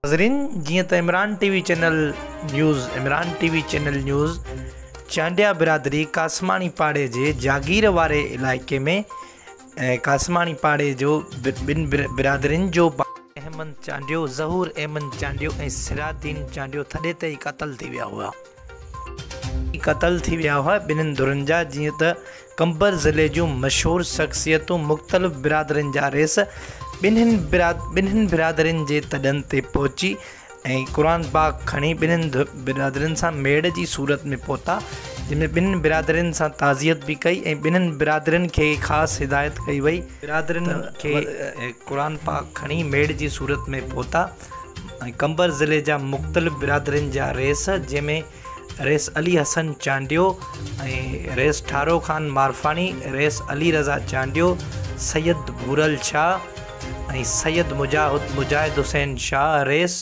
ناظرين جيئن ته Imran T V channel news Imran T V channel news Chandia برادري قاسماڻي پاڙي جي جاگير واري علائقي ۾ قاسماڻي پاڙي جو ٻن برادرين جو احمد چانڊيو ظهور احمد چانڊيو ۽ سراج الدين چانڊيو ٿڏي تي ئي قتل ٿي ويا هئا قتل ٿي ويا هئا ٻنهن ڌرين جا جيئن ته قمبر ضلعي جون مشهور شخصيتون مختلف برادرين جا رئيس ٻنهن ٻنهن برادرين جي تڏن تي پهچي ۽ قرآن پاڪ کڻي ٻنهن برادرين سان ميڙ جي صورت ۾ پهتا جنهن ۾ ٻنهن برادرين سان تعزيت به ڪئي ۽ ٻنهن برادرين کي خاص هدايت ڪئي وئي برادرين کي قرآن پاڪ کڻي ميڙ جي صورت ۾ پهتا. ۽ قمبر ضلعي جا مختلف برادرين جا رئيس جنهن ۾ رئيس علي حسن چانڊيو ۽ رئيس ٺارو خان مارفاڻي رئيس علي رضا چانڊيو سيد ڀورل شاهه ۽ سيد مجاهد مجاهد حسين شاهه رئيس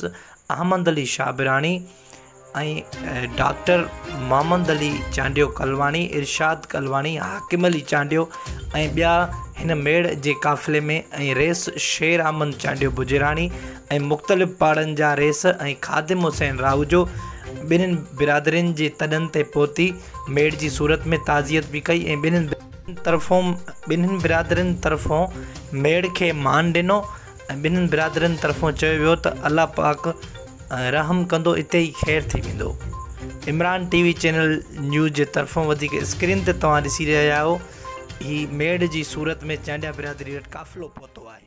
احمد علي شاهه براڻي ۽ ڊاڪٽر محمد علي چانڊيو ڪلواڻي ارشاد ڪلواڻي حاڪم علي چانڊيو ۽ ٻيا هن ميڙ جي قافلي ۾ ۽ ريس شير احمد چانڊيو بجراڻي ۽ مختلف پاڙن جا ريس ۽ خادم حسين راهوجو ٻنهن برادرين جي تڏن تي پهتي ميڙ جي صورت ۾ تعزيت به ڪئي ۽ ٻنهن برادرين طرفون ميڙ کي مان ڏنو ۽ ٻنهن برادرين طرفون چيو ويو ته الله پاڪ رحم ڪندو اتي ئي خير ٿي ويندو Imran T V channel news جي طرفون وڌيڪ اسڪرين تي توهان ڏسي رهيا آهيو هي ميڙ جي صورت ۾ چانڊيا برادري وٽ قافلو پهتو آهي